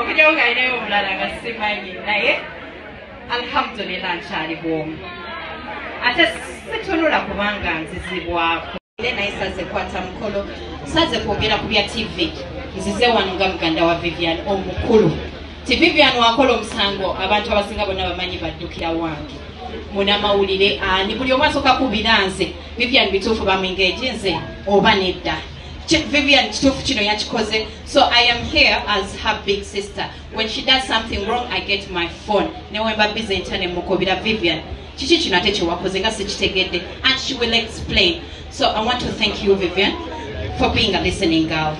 okujjawo nga alinayo omulala nga simanyi naye alhamdulillah nkyali bwomu ate situnula kubanga nzizibwako naye saze kwata mukolo saze kwogera ku bya tv nzize wano nga muganda wa vivian omukulu ti vivian wakola omusango abantu abasinga bonna bamanyi baddukira wange munamawulire ani buli omwasoka kubiranze vivian bituufu bamwingeeji nze oba nedda vivian kituufu kino yakikoze so i am here as her big sister when she does something wrong i get my phone newemba bize ntya nemukubira vivian kiki kino ate kyewakoze nga sikitegedde and she will explain so i want to thank you vivian for being a listening girl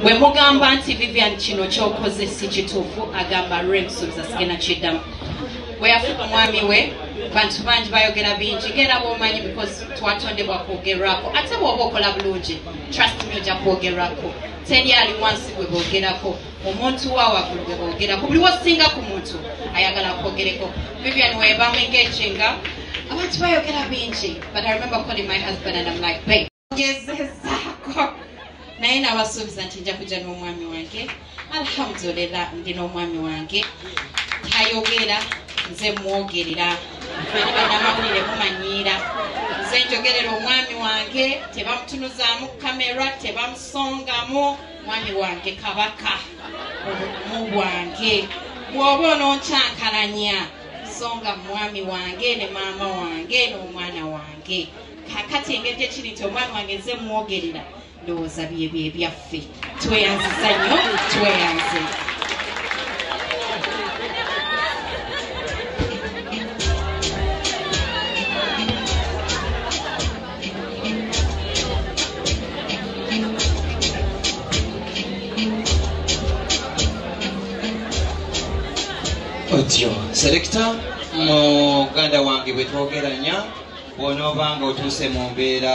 bwe mugamba nti vivian kino kyokoze si kituufu agamba rem subiza sigenda kiddamu bwe yafuuka omwami we bantu bangi bayogera bingi ngera bwomanyi because twatondebwa kwogerwako ate bwoba okola bulungi trust me ojja kwogerwako teri ali wansi gwe boogerako omuntu wa waggulu gwe boogerako buli wosinga ku muntu ayagala kwogereko vivian webamu engejinga abantu bayogera bingi but i remember calling my husband and am like babe gezezaako naye nabasuubiza nti nja kujja n'omwami wange alhamdulillah ndi n'omwami wange tayogera nze mwogerera ani banamawulire mumanyiira nze njogerera omwami wange tebamutunuzaamu kamera tebamusongamu mwami wange kabaka obumu bwange bwoba ononkyankalanya songa mwami wange ne maama wange n'omwana wange kakati engeri gye kiri nti omwana wange nze mwogerera ndowooza byebyo ebyaffe tweyanziza nnyo tweyanze otyo selekita muganda wange bwetwogeranya bwonoba nga otuuse mu mbeera